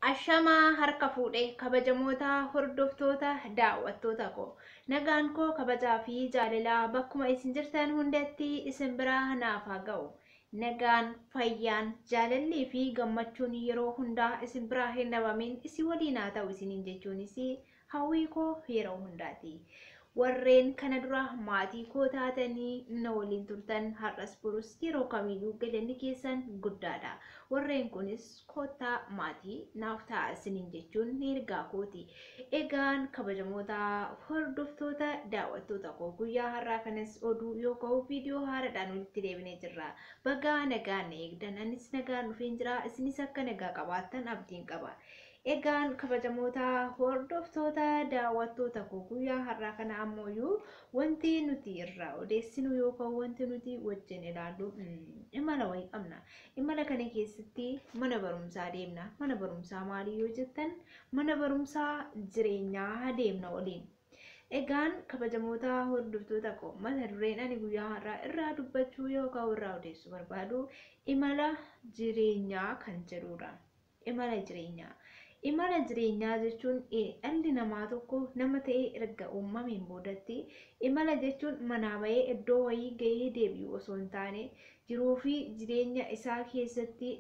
Ashamaa harka fuudhe kabajamoota hordoftoota daawwattoota koo nagaan koo kabajaa fi jaalalaa bakkuma isin jirtan hundatti isin biraa naaf haa ga'u nagaan fayyaan jaalallii fi gammachuun yeroo hundaa isin biraa hin dhabamin isin waliin haa ta'u isiniin jechuunis Hawwii koo yeroo hundaati. Warreen kana dura maatii koo taatanii na waliin turtan har'as borus yeroo kamiyyuu galanni keessan guddaadha. Warreen kunis koottaa maatii naaf ta'a isiniin jechuun ergaa kooti. Egaan kabajamoota hordoftoota daawwattoota koo guyyaa har'aa kanas oduu yoo ka'u viidiyoo haaraadhaan walitti deebinee jirra. Bagaa nagaan na eegdan anis nagaan dhufeen jira isinis akka nagaa qabaattan abdiin qaba. Egaan kabajamoota hordoftoota daawwattoota koo guyyaa har'aa kana ammooyyuu wanti nuti irraa odeessinu yookaan wanti nuti wajjin ilaallu imala wayii qabna. Imala kana keessatti mana barumsaa deemna. Mana barumsaa maalii yoo jettan mana barumsaa jireenyaa deemna waliin. Egaan kabajamoota hordoftoota koo mata dureen ani guyyaa har'aa irraa dubbachuu yookaan irraa odeessuu barbaadu imala jireenyaa kan jedhudha. Imala jireenyaa. Imala jireenyaa jechuun dhalli namaa tokko nama ta'ee erga uumameen boodatti imala jechuun manaa ba'ee iddoo wayii ga'ee deebi'u osoo hin taane jiruu fi jireenya isaa keessatti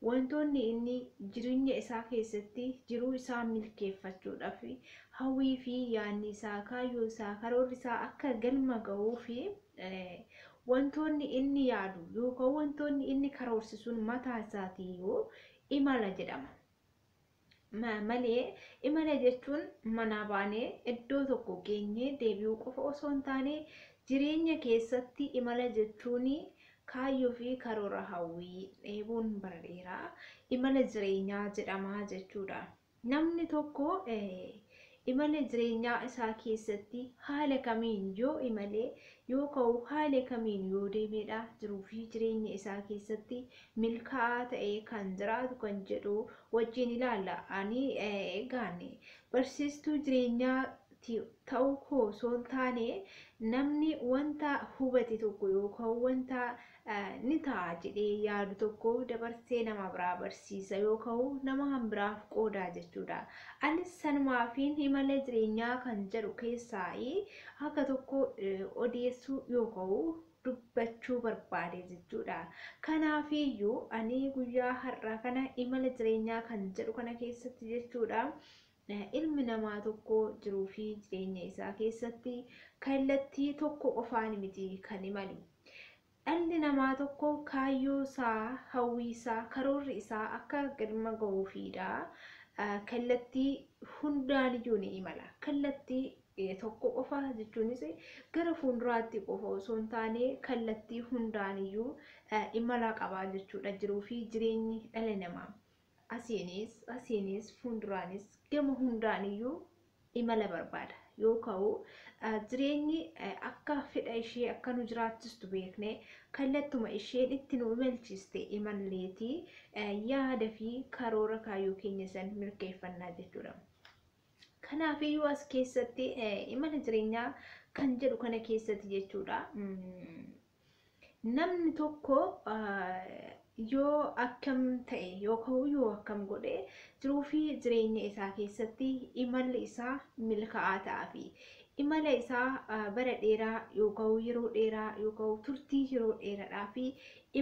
wantoonni inni jireenya isaa keessatti jiruu isaa milkeeffachuudhaaf hawwii fi yaanni isaa kaayyoo isaa karoorri isaa akka galma ga'uu fi Wantoonni inni yaadu yookaan wantoonni inni karoorse sun mataa isaatiiyyuu imala jedhama. Ma- Malee imala jechuun manaa baanee iddoo tokko geenyee deebi'uu qofa osoo hin taane jireenya keessatti imala jechuun kaayyoo fi karoora hawwii dheebuun bara dheeraa imala jireenyaa jedhama jechuudha. Namni tokko imala jireenyaa isaa keessatti haala kamiin yoo imalee yoo ka'uu haala kamiin yoo deemeedha jiruu fi jireenya isaa keessatti milkaa'aa ta'ee kan jiraatu kan jedhu wajjiin ilaalla. Ani egaan barsiistuu jireenyaa ta'uu koo osoo hin taane namni wanta hubate tokko yookaan wanta ni ta'a jedhee yaadu tokko dabarsee nama biraa barsiisa yookaan nama kan biraaf qoodaa jechuudha. Anis sanumaafiin imala jireenyaa kan jedhu keessaa akka tokko odeessuu yookaan dubbachuu barbaade jechuudha. Kanaafiyyuu ani guyyaa har'aa kana imala jireenyaa kan jedhu kana keessatti jechuudha. Ilmi namaa tokko jiruu fi jireenya isaa keessatti kallattii tokko qofaan miti kan imalu. Dhalli namaa tokko kaayyoo isaa, hawwii isaa, karoorri isaa akka galma gahuufiidha. Kallattii hundaaniyyuu ni imala. Kallattii tokko qofa jechuunis gara fuulduraatti qofa osoo hin taane kallattii hundaaniyyuu imala qaba jechuudha jiruu fi jireenyi dhala namaa. Asiinis, asiinis, fuunduraanis gama hundaaniyyuu imala barbaada. Yoo ka'u jireenyi akka fedha ishee akka nu jiraachistu beekne kallattuma isheen itti nu imalchiiste imalleeti yaada fi karoora kaayyoo keenya san mirkeeffannaa jechuudha. Kanaafiyyuu as keessatti imala jireenyaa kan jedhu kana keessatti jechuudha. Namni tokko yoo akkam ta'e yookaan yoo akkam godhe jiruu fi jireenya isaa keessatti imalli isaa milkaa'aa ta'aa fi imala isaa bara dheeraa yookaan yeroo dheeraa yookaan turtii yeroo dheeraadhaa fi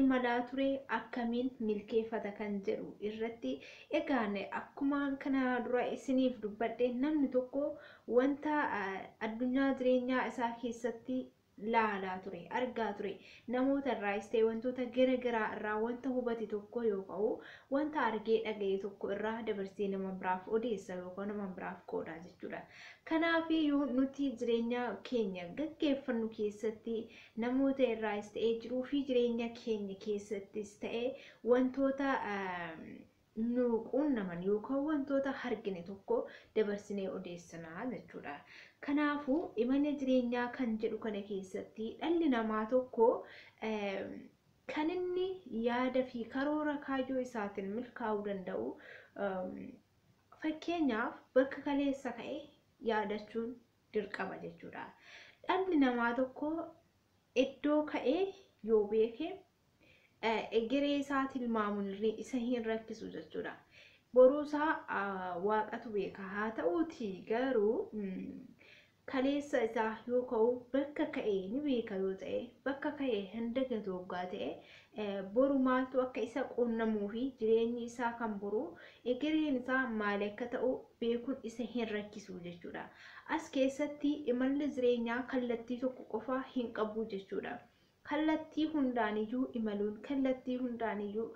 imalaa ture akkamiin milkeeffata kan jedhu irratti egaan akkuma kana dura isiniif dubbadhe namni tokko wanta addunyaa jireenyaa isaa keessatti laalaa ture, argaa ture. Namoota irraayis ta'e wantoota gara garaa irraa wanta hubate tokko yoo ka'u, wanta argee dhaga'e tokko irraa dabarsee nama biraaf odeessa yookaan nama biraaf qoodaa jechuudha. Kanaafiyyuu nuti jireenya keenya gaggeeffannu keessatti namoota irraayis ta'ee jiruu fi jireenya keenya keessattis ta'e wantoota nu quunnaman yookaan wantoota argine tokko dabarsinee odeessina jechuudha. Kanaafuu imala jireenyaa kan jedhu kana keessatti dhalli namaa tokko kan inni yaada fi karoora kaayyoo isaatiin milkaa'uu danda'u fakkeenyaaf bakka kaleessa ka'e yaadachuun dirqama jechuudha. Dhalli namaa tokko iddoo ka'ee yoo beeke egeree isaa tilmaamuun isa hin rakkisu jechuudha. Boruu isaa waaqatu beeka. Haa ta'uuti garuu kaleessa isaa yoo ka'u bakka ka'e ni beeka yoo ta'e bakka ka'e hin dagatu hoggaa ta'e boru maaltu akka isa quunnamuu fi jireenyi isaa kan boru egereen isaa maal akka ta'u beekuun isa hin rakkisu jechuudha. As keessatti imalli jireenyaa kallattii tokko qofaa hin qabu jechuudha. kallattii hundaaniyyuu imaluun kallattii hundaaniyyuu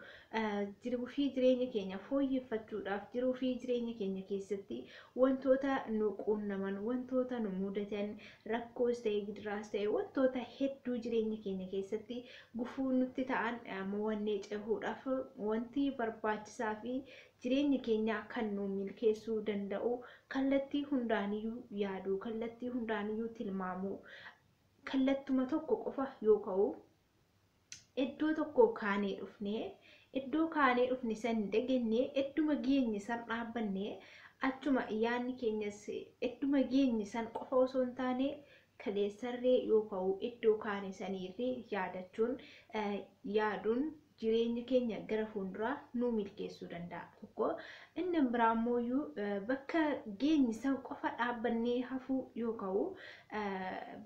jiruu fi jireenya keenya fooyyeffachuudhaaf jiruu fi jireenya keenya keessatti wantoota nu quunnaman wantoota nu mudatan rakkoos ta'e gidiraas ta'e wantoota hedduu jireenya keenya keessatti gufuu nutti ta'an mo'annee cehuudhaaf wanti barbaachisaa fi jireenya keenya kan nu milkeessuu danda'u kallattii hundaaniyyuu yaaduu kallattii hundaaniyyuu tilmaamuu Kallattuma tokko qofa yoo ka'u, eddoo tokkoo kaanee dhufnee, eddoo kaanee dhufne san dagannee, edduma geenye san dhaabbanne, achuma yaanni keenyas edduma geenye san qofa osoo hin taane, kaleessarree yoo ka'u eddoo kaane saniirree yaadachuun, yaaduun, jireenya keenya gara fuulduraa nuu milkeessuu danda'a tokko inni biraa immooyyuu bakka geenye san qofa dhaabbannee hafuu yoo ka'u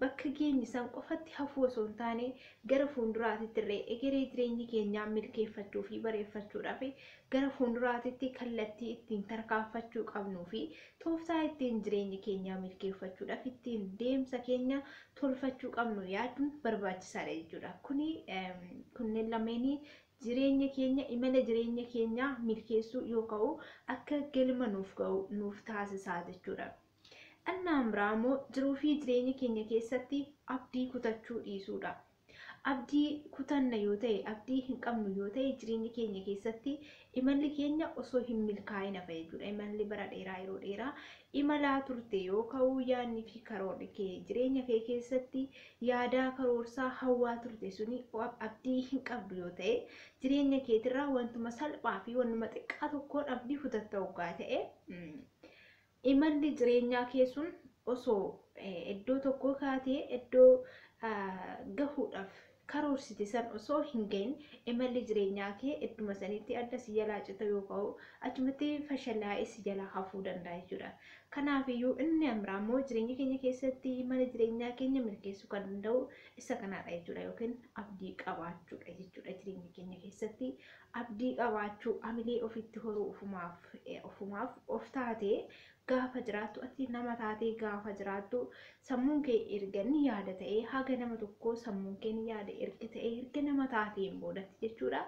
bakka geenye san qofatti hafuu osoo hin taane gara fuulduraatitti irree egeree jireenya keenyaa milkeeffachuu fi bareeffachuudhaaf gara fuunduraatitti kallattii ittiin tarkaanfachuu qabnuu fi tooftaa ittiin jireenya keenyaa milkeeffachuudhaaf ittiin deemsa keenya tolfachuu qabnu yaaduun barbaachisaadha jechuudha. Kuni kunneen lameenii jireenya keenya imala jireenya keenyaa milkeessuu yoo ka'u akka galma nuuf ga'u nuuf taasisaa jechuudha. Annaan biraa immoo jiruu fi jireenya keenya keessatti abdii kutachuu dhiisuudha. Abdii kutanna yoo ta'e, abdii hin qabnu yoo ta'e jireenya keenya keessatti imalli keenya osoo hin milkaa'in hafa jechuudha. Imalli bara dheeraa yeroo dheeraa imalaa turte yoo ka'u yaadni fi karoorri kee jireenya kee keessatti yaadaa karoorsaa hawwaa turte suni abdii hin qabdu yoo ta'e jireenya keetirraa wantuma salphaa fi wantuma xiqqaa tokkoon abdii kutatta hoggaa ta'e Imalli jireenyaa kee sun osoo iddoo tokkoo kaatee iddoo gahuudhaaf karoorsite san osoo hin gahin imalli jireenyaa kee idduma sanitti adda si jalaa cita yookaan achumatti fashalaa'ee si jalaa hafuu danda'a jechuudha. Kanaafiyyuu inni amraa immoo jireenya keenya keessatti imala jireenyaa keenya milkeessuu kan danda'u isa kanaadha jechuudha yookiin abdii qabaachuudha jechuudha jireenya keenya keessatti Abdii qabaachuu, hamilee ofitti horuu ofumaaf ofumaaf of taatee gaafa jiraattu ati nama taatee gaafa jiraattu sammuun kee erga ni yaada ta'ee haga nama tokkoo sammuun kee ni yaada erga ta'ee erga nama taateen boodatti jechuudha.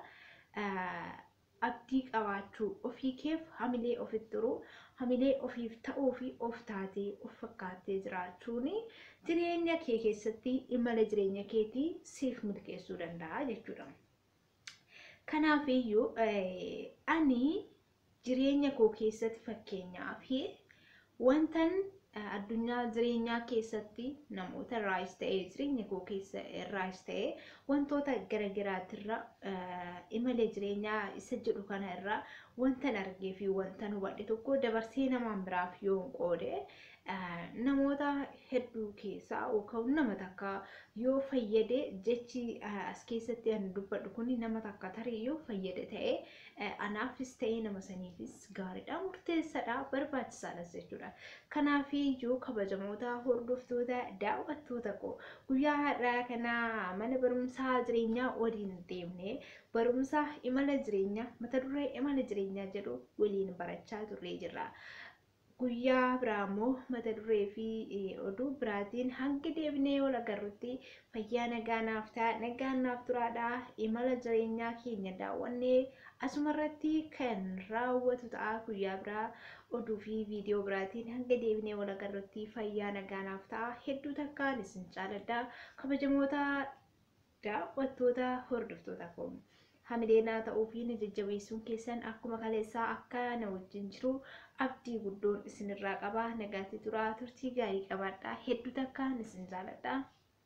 Abdii qabaachuu, ofii keef hamilee ofitti horuu, hamilee ofiif ta'uu fi of taatee of fakkaattee jiraachuun jireenya kee keessatti imala jireenya keetii siif milkeessuu danda'a jechuudha. Kanaaf iyyuu ani jireenya koo keessatti fakkeenyaa fi wantan addunyaa jireenyaa keessatti namoota irraayis ta'ee jireenya koo keessa irraayis ta'ee wantoota gara garaatirra imala jireenyaa isa jedhu kana irraa wantan argee fi wantan hubadhe tokko dabarsee namaan biraaf yoon qoode namoota hedduu keessaa yookaan nama takka yoo fayyade jechi as keessatti ani dubbadhu kun nama takka tarii yoo fayyade ta'e anaafis ta'e nama saniifis gaariidha murteessaadha barbaachisaadhas jechuudha. Kanaaf iyyuu kabajamoota hordoftoota daawwattoota koo guyyaa har'aa kana mana barumsaa jireenyaa waliin deemne barumsa imala jireenyaa mata duree imala jireenyaa jedhu waliin barachaa turree jirra. Guyyaa biraa ammoo mata duree fi oduu biraatiin hanga deebinee wal agarrutti fayyaa nagaa naaf ta'a nagaan naaf turaadha imala jireenyaa keenya daawwannee asumarratti kan raawwatu ta'a guyyaa biraa oduu fi viidiyoo biraatiin hanga deebinee wal agarrutti fayyaa nagaa naaf ta'a hedduu takkaan isin jaaladha kabajamoota Daawwattoota, hordoftoota koo. Hamilee naa ta'uu fi na jajjabeessuun keessan akkuma kaleessaa akka na wajjin jiru abdii guddoon isinirraa qaba. Nagaatti turaa, turtii gaarii qabaadhaa. Hedduu takkaan isin jaaladha.